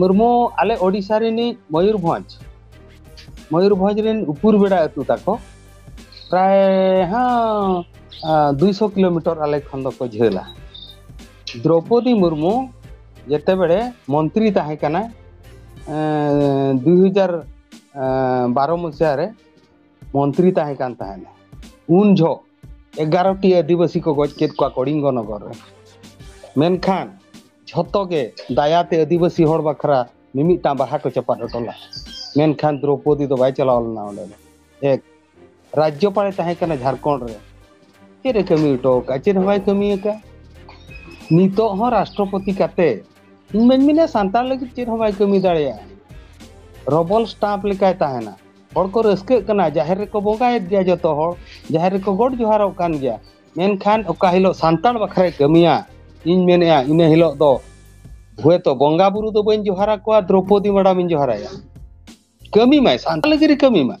ᱢᱩᱨᱢᱩ ᱟᱞᱮ ᱳᱰᱤᱥᱟ ᱨᱤᱱᱤᱡ ᱢᱚᱭᱩᱨᱵᱷᱚᱸᱡᱽ ᱢᱚᱭᱩᱨᱵᱷᱚᱸᱡᱽ ᱨᱤᱱ ᱩᱯᱩᱨ ᱵᱮᱲᱟ ᱟᱹᱛᱩ ᱛᱟᱠᱚ ᱯᱨᱟᱭ ᱦᱚᱸ ᱫᱩᱭᱥᱚ ᱠᱤᱞᱳᱢᱤᱴᱟᱨ ᱟᱞᱮ ᱠᱷᱚᱱ ᱫᱚᱠᱚ ᱡᱷᱟᱹᱞᱟ ᱫᱨᱳᱯᱚᱫᱤ ᱢᱩᱨᱢᱩ ᱡᱮᱛᱮ ᱵᱮᱲᱮ ᱢᱚᱱᱛᱨᱤ ᱛᱟᱦᱮᱸ ᱠᱟᱱᱟ ᱫᱩᱭ ᱦᱟᱡᱟᱨ ᱵᱟᱨᱚ ᱢᱩᱪᱟᱹᱫ ᱨᱮ ᱢᱚᱱᱛᱨᱤ ᱛᱟᱦᱮᱸ ᱠᱟᱱ ᱛᱟᱦᱮᱱᱟ ᱩᱱ ᱡᱷᱚᱜ ᱮᱜᱟᱨᱚᱴᱤ ᱟᱹᱫᱤᱵᱟᱹᱥᱤ ᱠᱚ ᱜᱚᱡ ᱠᱮᱫ ᱠᱚᱣᱟ ᱠᱚᱲᱤᱝᱜᱚ ᱱᱚᱜᱚᱨ ᱨᱮ ᱢᱮᱱᱠᱷᱟᱱ ᱡᱷᱚᱛᱚ ᱜᱮ ᱫᱟᱭᱟᱛᱮ ᱟᱹᱫᱤᱵᱟᱹᱥᱤ ᱦᱚᱲ ᱵᱟᱠᱷᱨᱟ ᱢᱤᱢᱤᱫᱴᱟᱝ ᱵᱟᱦᱟ ᱠᱚ ᱪᱟᱯᱟᱫ ᱦᱚᱴᱚ ᱞᱮᱫᱟ ᱢᱮᱱᱠᱷᱟᱱ ᱫᱨᱚᱯᱚᱫᱤ ᱫᱚ ᱵᱟᱭ ᱪᱟᱞᱟᱣ ᱞᱮᱱᱟ ᱚᱸᱰᱮ ᱫᱚ ᱮᱠ ᱨᱟᱡᱽᱡᱚᱯᱟᱲᱮ ᱛᱟᱦᱮᱸ ᱠᱟᱱᱟ ᱡᱷᱟᱲᱠᱷᱚᱸᱰ ᱨᱮ ᱪᱮᱫ ᱮ ᱠᱟᱹᱢᱤ ᱦᱚᱴᱚ ᱟᱠᱟᱫᱼᱟ ᱪᱮᱫ ᱦᱚᱸ ᱵᱟᱭ ᱠᱟᱹᱢᱤ ᱟᱠᱟᱫᱼᱟ ᱱᱤᱛᱚᱜ ᱦᱚᱸ ᱨᱟᱥᱴᱨᱚᱯᱚᱛᱤ ᱠᱟᱛᱮ ᱤᱧ ᱢᱟᱹᱧ ᱢᱮᱱᱟ ᱥᱟᱱᱛᱟᱲ ᱞᱟᱹᱜᱤᱫ ᱪᱮᱫ ᱦᱚᱸ ᱵᱟᱭ ᱠᱟᱹᱢᱤ ᱫᱟᱲᱮᱭᱟᱜᱼᱟ ᱨᱚᱵᱚᱞ ᱥᱴᱟᱢᱯ ᱞᱮᱠᱟᱭ ᱛᱟᱦᱮᱱᱟ ᱦᱚᱲ ᱠᱚ ᱨᱟᱹᱥᱠᱟᱹᱜ ᱠᱟᱱᱟ ᱡᱟᱦᱮᱨ ᱨᱮᱠᱚ ᱵᱚᱸᱜᱟᱭᱮᱫ ᱜᱮᱭᱟ ᱡᱚᱛᱚ ᱦᱚᱲ ᱡᱟᱦᱮᱨ ᱨᱮᱠᱚ ᱜᱚᱰ ᱡᱚᱦᱟᱨᱚᱜ ᱠᱟᱱ ᱜᱮᱭᱟ ᱢᱮᱱᱠᱷᱟᱱ ᱚᱠᱟ ᱦᱤᱞᱳᱜ ᱥᱟᱱᱛᱟᱲ ᱵᱟᱠᱷᱨᱟᱭ ᱠᱟᱹᱢᱤᱭᱟ ᱤᱧ ᱢᱮᱱᱮᱫᱼᱟ ᱤᱱᱟᱹ ᱦᱤᱞᱳᱜ ᱫᱚ ᱦᱳᱭᱛᱚ ᱵᱚᱸᱜᱟ ᱵᱩᱨᱩ ᱫᱚ ᱵᱟᱹᱧ ᱡᱚᱦᱟᱨ ᱟᱠᱚᱣᱟ ᱫᱨᱚᱯᱚᱫᱤ ᱢᱮᱰᱟᱢ ᱤᱧ ᱡᱚᱦᱟᱨᱟᱭᱟ ᱠᱟᱹᱢᱤ ᱢᱟᱭ ᱥᱟᱱᱛᱟᱲ ᱞᱟᱹᱜᱤᱫ ᱮ ᱠᱟᱹᱢᱤ ᱢᱟ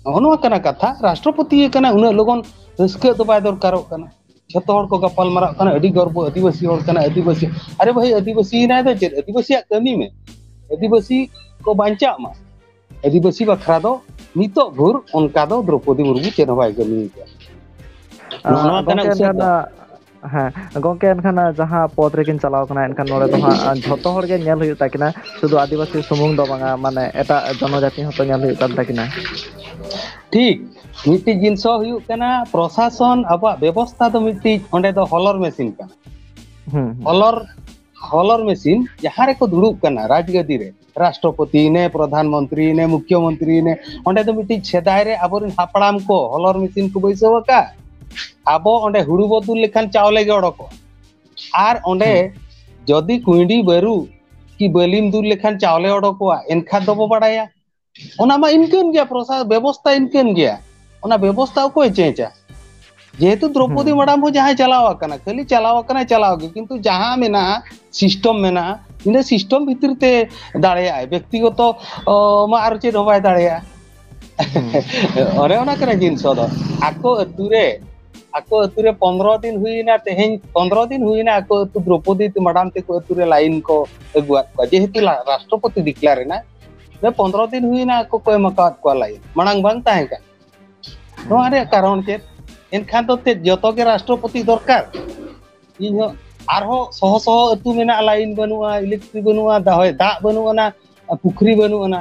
ᱱᱚᱜᱼᱚ ᱱᱚᱣᱟ ᱠᱟᱱᱟ ᱠᱟᱛᱷᱟ ᱨᱟᱥᱴᱨᱚᱯᱚᱛᱤ ᱠᱟᱱᱟ ᱩᱱᱟᱹᱜ ᱞᱚᱜᱚᱱ ᱨᱟᱹᱥᱠᱟᱹ ᱫᱚ ᱵᱟᱭ ᱫᱚᱨᱠᱟᱨᱚᱜ ᱠᱟᱱᱟ ᱡᱷᱚᱛᱚ ᱦᱚᱲ ᱠᱚ ᱜᱟᱯᱟᱞ ᱢᱟᱨᱟᱜ ᱠᱟᱱᱟ ᱟᱹᱰᱤ ᱜᱚᱨᱵᱚ ᱟᱹᱫᱤᱵᱟᱹᱥᱤ ᱦᱚᱲ ᱠᱟᱱᱟᱭ ᱟᱹᱫᱤᱵᱟᱹᱥᱤ ᱟᱨᱮ ᱵᱷᱟᱹᱭ ᱟᱹᱫᱤᱵᱟᱹᱥᱤᱭᱮᱱᱟᱭ ᱫᱚ ᱪᱮᱫ ᱟᱹᱫᱤᱵᱟᱹᱥᱤᱭᱟᱜ ᱠᱟᱹᱢᱤ ᱢᱮ ᱟᱹᱫᱤᱵᱟᱹᱥᱤ ᱠᱚ ᱵᱟᱧᱪᱟᱜ ᱢᱟ ᱟᱹᱫᱤᱵᱟᱹᱥᱤ ᱵᱟᱠᱷᱨᱟ ᱫᱚ ᱱᱤᱛᱚᱜ ᱵᱷᱳᱨ ᱚᱱᱠᱟ ᱫᱚ ᱫᱨᱚᱯᱚᱫᱤ ᱢᱩᱨᱢᱩ ᱪᱮᱫ ᱦᱚᱸ ᱵᱟᱭ ᱠᱟᱹᱢᱤ ᱠᱟᱜᱼᱟ ᱱᱚᱣᱟ ᱠᱟᱱᱟ ᱩᱥᱟᱹᱨᱟ ᱫᱚ ᱦᱮᱸ ᱜᱚᱝᱠᱮ ᱮᱱᱠᱷᱟᱱ ᱡᱟᱦᱟᱸ ᱯᱚᱫ ᱨᱮᱠᱤᱱ ᱪᱟᱞᱟᱣ ᱠᱟᱱᱟ ᱮᱱᱠᱷᱟᱱ ᱱᱚᱸᱰᱮ ᱫᱚ ᱦᱟᱸᱜ ᱡᱷᱚᱛᱚ ᱦᱚᱲ ᱜᱮ ᱧᱮᱞ ᱦᱩᱭᱩᱜ ᱛᱟᱹᱠᱤᱱᱟ ᱥᱩᱫᱷᱩ ᱟᱹᱫᱤᱵᱟᱹᱥᱤ ᱥᱩᱢᱩᱝ ᱫᱚ ᱵᱟᱝᱟ ᱢᱟᱱᱮ ᱮᱴᱟᱜ ᱡᱚᱱᱚ ᱡᱟᱹᱛᱤ ᱦᱚᱸᱛᱚ ᱧᱮᱞ ᱦᱩᱭᱩᱜ ᱠᱟᱱ ᱛᱟᱹᱠᱤᱱᱟ ᱴᱷᱤᱠ ᱢᱤᱫᱴᱤᱡ ᱡᱤᱱᱤᱥ ᱦᱚᱸ ᱦᱩᱭᱩᱜ ᱠᱟᱱᱟ ᱯᱨᱚᱥᱟᱥᱚᱱ ᱟᱵᱚᱣᱟᱜ ᱵᱮᱵᱚᱥᱛᱷᱟ ᱫᱚ ᱢᱤᱫᱴᱤᱡ ᱚᱸᱰᱮ ᱫᱚ ᱦᱚᱞᱚᱨ ᱢᱮᱥᱤᱱ ᱠᱟᱱᱟ ᱦᱩᱸ ᱦᱩᱸ ᱦᱚᱞᱚᱨ ᱦᱚᱞᱚᱨ ᱢᱮᱥᱤᱱ ᱡᱟᱦᱟᱸ ᱨᱮᱠᱚ ᱫᱩᱲᱩᱵ ᱠᱟᱱᱟ ᱨᱟᱡᱽ ᱜᱟᱹᱫᱤ ᱨᱮ ᱨᱟᱥᱴᱨᱚᱯᱚᱛᱤ ᱱᱮ ᱯᱨᱚᱫᱷᱟᱱ ᱢᱚᱱᱛᱨᱤ ᱱᱮ ᱢᱩᱠᱷᱭᱚ ᱢᱚᱱᱛᱨᱤ ᱱᱮ ᱚᱸᱰᱮ ᱫᱚ ᱢᱤᱫᱴᱤᱡ ᱥᱮᱫᱟᱭ ᱨᱮ ᱟᱵᱚᱨᱮᱱ ᱦᱟᱯᱲᱟᱢ ᱠᱚ ᱦᱚᱞᱚᱨ ᱢᱮᱥᱤᱱ ᱠᱚ ᱵᱟᱹᱭᱥᱟᱹᱣ ᱟᱠᱟᱫ ᱟᱵᱚ ᱚᱸᱰᱮ ᱦᱩᱲᱩ ᱵᱚ ᱫᱩᱞ ᱞᱮᱠᱷᱟᱱ ᱪᱟᱣᱞᱮ ᱜᱮ ᱚᱰᱚᱠᱚᱜᱼᱟ ᱟᱨ ᱚᱸᱰᱮ ᱡᱚᱫᱤ ᱠᱩᱸᱭᱰᱤ ᱵᱟᱹᱨᱩ ᱠᱤ ᱵᱟᱹᱞᱤᱢ ᱫᱩᱞ ᱞᱮᱠᱷᱟᱱ ᱪᱟᱣᱞᱮ ᱚᱰᱚᱠᱚᱜᱼᱟ ᱮᱱᱠᱷᱟᱱ ᱫᱚᱵᱚ ᱵᱟᱲᱟᱭᱟ ᱚᱱᱟ ᱢᱟ ᱤᱱᱠᱟᱹᱱ ᱜᱮᱭᱟ ᱯᱨᱚᱥᱟ ᱵᱮᱵᱚᱥᱛᱷᱟ ᱤᱱᱠᱟᱹᱱ ᱜᱮᱭᱟ ᱚᱱᱟ ᱵᱮᱵᱚᱥᱛᱷᱟ ᱚᱠᱚᱭ ᱪᱮᱧᱡᱟ ᱡᱮᱦᱮᱛᱩ ᱫᱨᱚᱯᱚᱫᱤ ᱢᱮᱰᱟᱢ ᱦᱚᱸ ᱡᱟᱦᱟᱸᱭ ᱪᱟᱞᱟᱣ ᱟᱠᱟᱱᱟ ᱠᱷᱟᱹᱞᱤ ᱪᱟᱞᱟᱣ ᱟᱠᱟᱱᱟᱭ ᱪᱟᱞᱟᱣ ᱜᱮ ᱠᱤᱱᱛᱩ ᱡᱟᱦᱟᱸ ᱢᱮᱱᱟᱜᱼᱟ ᱥᱤᱥᱴᱚᱢ ᱢᱮᱱᱟᱜᱼᱟ ᱤᱱᱟᱹ ᱥᱤᱥᱴᱚᱢ ᱵᱷᱤᱛᱤᱨ ᱛᱮ ᱫᱟᱲᱮᱭᱟᱜᱼᱟᱭ ᱵᱮᱠᱛᱤᱜᱚᱛᱚ ᱢᱟ ᱟᱨ ᱪᱮᱫ ᱦᱚᱸ ᱵᱟᱭ ᱫᱟᱲᱮᱭᱟᱜᱼᱟ ᱚᱱᱮ ᱚᱱᱟ ᱠᱟᱱᱟ ᱡᱤᱱᱤᱥ ᱫᱚ ᱟᱠᱚ ᱟᱹᱛᱩ ᱨᱮ ᱟᱠᱚ ᱟᱹᱛᱩ ᱨᱮ ᱯᱚᱱᱨᱚ ᱫᱤᱱ ᱦᱩᱭᱱᱟ ᱛᱮᱦᱮᱧ ᱯᱚᱱᱨᱚ ᱫᱤᱱ ᱦᱩᱭᱱᱟ ᱟᱠᱚ ᱟᱹᱛᱩ ᱫᱨᱚᱯᱚᱫᱤ ᱢᱮᱰᱟᱢ ᱛᱮᱠᱚ ᱟᱹᱛᱩ ᱨᱮ ᱞᱟᱭᱤᱱ ᱠᱚ ᱟᱹᱜᱩᱣᱟᱫ ᱠᱚᱣᱟ ᱡᱮᱦᱮᱛᱩ ᱨᱟᱥᱴᱨᱚᱯᱚᱛᱤ ᱰᱤᱠᱞᱟᱨ ᱮᱱᱟ ᱫᱚ ᱯᱚᱱᱨᱚ ᱫᱤᱱ ᱦᱩᱭᱱᱟ ᱟᱠᱚ ᱠᱚ ᱮᱢ ᱟᱠᱟᱫ ᱠᱚᱣᱟ ᱞᱟᱭᱤᱱ ᱢᱟᱲᱟᱝ ᱵᱟᱝ ᱛᱟᱦᱮᱸ ᱠᱟᱱᱟ ᱱᱚᱣᱟ ᱨᱮᱭᱟᱜ ᱠᱟᱨᱚᱱ ᱪᱮᱫ ᱮᱱᱠᱷᱟᱱ ᱫᱚ ᱪᱮᱫ ᱡᱚᱛᱚ ᱜᱮ ᱨᱟᱥᱴᱨᱚᱯᱚᱛᱤ ᱫᱚᱨᱠᱟᱨ ᱤᱧ ᱦᱚᱸ ᱟᱨᱦᱚᱸ ᱥᱚᱦᱚ ᱥᱚᱦᱚ ᱟᱹᱛᱩ ᱢᱮᱱᱟᱜᱼᱟ ᱞᱟᱭᱤᱱ ᱵᱟᱹᱱᱩᱜᱼᱟ ᱤᱞᱮᱠᱴᱨᱤ ᱵᱟᱹᱱᱩᱜᱼᱟ ᱫᱟᱦᱚᱭ ᱫᱟᱜ ᱵᱟᱹᱱᱩᱜ ᱟᱱᱟ ᱯᱩᱠᱷᱨᱤ ᱵᱟᱹᱱᱩᱜ ᱟᱱᱟ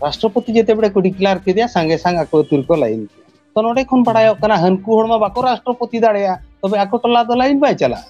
ᱨᱟᱥᱴᱨᱚᱯᱚᱛᱤ ᱡᱮᱛᱮ ᱵᱮᱲᱮ ᱠᱚ ᱰᱤᱠᱞᱟᱨ ᱠᱮᱫᱮᱭᱟ ᱥᱟᱸᱜᱮ ᱥᱟᱝ ᱟᱠᱚ ᱟᱹᱛᱩ ᱨᱮᱠᱚ ᱞᱟᱭᱤᱱ ᱠᱮᱫᱟ ᱛᱚ ᱱᱚᱰᱮ ᱠᱷᱚᱱ ᱵᱟᱲᱟᱭᱚᱜ ᱠᱟᱱᱟ ᱦᱟᱹᱱᱠᱩ ᱦᱚᱲ ᱢᱟ ᱵᱟᱠᱚ ᱨᱟᱥᱴᱨᱚᱯᱚᱛᱤ ᱫᱟᱲᱮᱭᱟᱜᱼᱟ ᱛᱚᱵᱮ ᱟᱠᱚ ᱴᱚᱞᱟ ᱫᱚ ᱞᱟᱭᱤᱱ ᱵᱟᱭ ᱪᱟᱞᱟᱜᱼᱟ